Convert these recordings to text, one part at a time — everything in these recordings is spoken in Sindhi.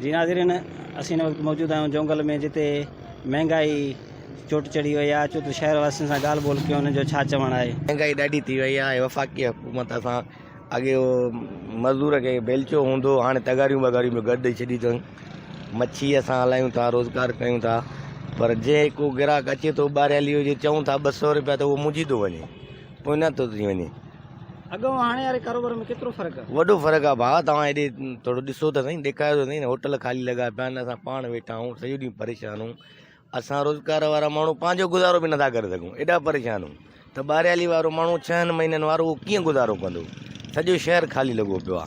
جي ناظرين اسين هن وقت موجود آهيون جونگل ۾ جتي مهنگائي چوٽ چڙهي وئي آهي اچو ته شهر واسين سان ڳالهه ٻولهه ڪيون انهن جو ڇا چوڻ آهي. مهنگائي ڏاڍي ٿي وئي آهي وفاقي حڪومت اسان اڳي اهو مزدور کي بيلچو هوندو هو هاڻي تغاريون بغاريون به گهر ڏئي ڇڏي اٿن مڇي اسان هلايون ٿا روزگار ڪيون ٿا پر جي ڪو گراهڪ اچي ٿو ٻاريالي هجي چئون ٿا ٻه سئو روپيا ته اهو منجهي ٿو وڃي پوئنا ٿو ٿي وڃي. اڳ ۽ هاڻي واري ڪاروبار ۾ ڪيترو فرق آ؟ وڏو فرق آ ڀاء توهان هيڏي ٿورو ڏسو ته سهين ڏيکاريو ته سهين هوٽل خالي لڳا پيا آهن اسان پاڻ ويٺا آهون سڄو ڏينهن پريشان آهون اسان روزگار وارا ماڻهو پنهنجو گذارو به نٿا ڪري سگهون ايڏا پريشان آهون ته ٻاريالي وارو ماڻهو ڇهن مهينن وارو اهو ڪيئن گذارو ڪندو سڄو شهر خالي لڳو پيو آ.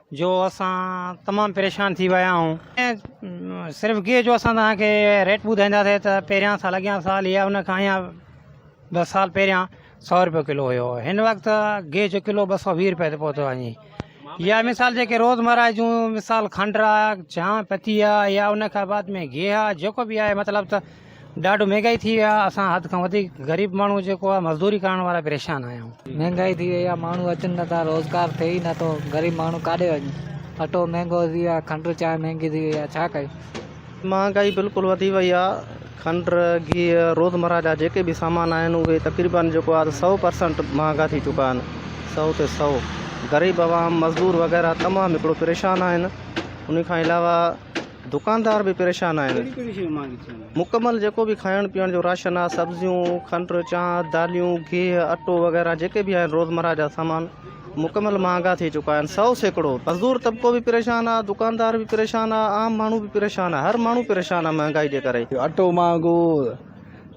جو اسان تمام پريشان ٿي ويا آهيون ۽ صرف گيهه جو اسان توهان کي ريٽ ٻڌائينداسي ته پهريان سال اڳيان سال يا ان کان اڃا ٻه سال پهريان سؤ روپيو ڪلو هيو هن وقت گيهه جو ڪلو ٻه سؤ ويهه روپئي تي پهتو وڃي يا مثال جيڪي روزمرا جون مثال کنڊ را جا پتي آ يا ان کان بعد ۾ گيهه آ جيڪو بي آهي مطلب ته ڏاڍو مھنگائي ٿي وئي آ اسان حد کان وڌيڪ غريب ماڻھو جيڪو آ مزدوري ڪرڻ وارا پريشان آھيون. مھنگائي ٿي وئي آ ماڻھو اچن نه ٿا روزگار ٿئي ئي نه ٿو غريب ماڻھو ڪاڏي وڃي اٽو مھنگو ٿي وئي آ کنڊ چانھه مھنگي ٿي وئي آ ڇا ڪيون. مھنگائي بلڪل وڌي وئي آ کنڊ گيھه روزمره جا جيڪي به سامان آھن اھي تقريبن جيڪو آ سئو پرسنٽ مھانگا ٿي چڪا آھن سئو تي سئو غريب عوام مزدور وغيره تمام ھڪڙو پريشان آھن انھي کان علاوه دڪاندار به پريشان آهن. مڪمل جيڪو به کائڻ پيئڻ جو راشن آهي، سبزيون، کنڊ، چانهه، داليون، گيهه، اٽو وغيره جيڪي به آهن روزمره جا سامان مڪمل مهانگا ٿي چڪا آهن سئو سيڪڙو. مزدور طبقو به پريشان آهي، دڪاندار به پريشان آهي، عام ماڻهو به پريشان آهي، هر ماڻهو پريشان آهي مهانگائي جي ڪري. اٽو مهانگو،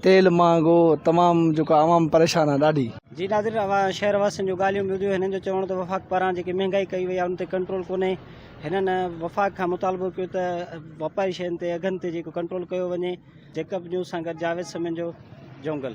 تيل مهانگو، تمام جيڪو عوام پريشان آهي ڏاڍي. جي ناظرين اوهان شهر واسين جون ڳالهيون ٻڌيون، هنن جو چوڻ هو ته وفاق پاران جيڪي مهانگائي ڪئي وئي آهي ان تي ڪنٽرول ڪونهي، هنن وفاق کان مطالبو ڪيو ته واپاري شين تي اگهن تي جيڪو ڪنٽرول ڪيو وڃي، جيڪب نيوز سان گڏ جاويد سميجو، جونگل.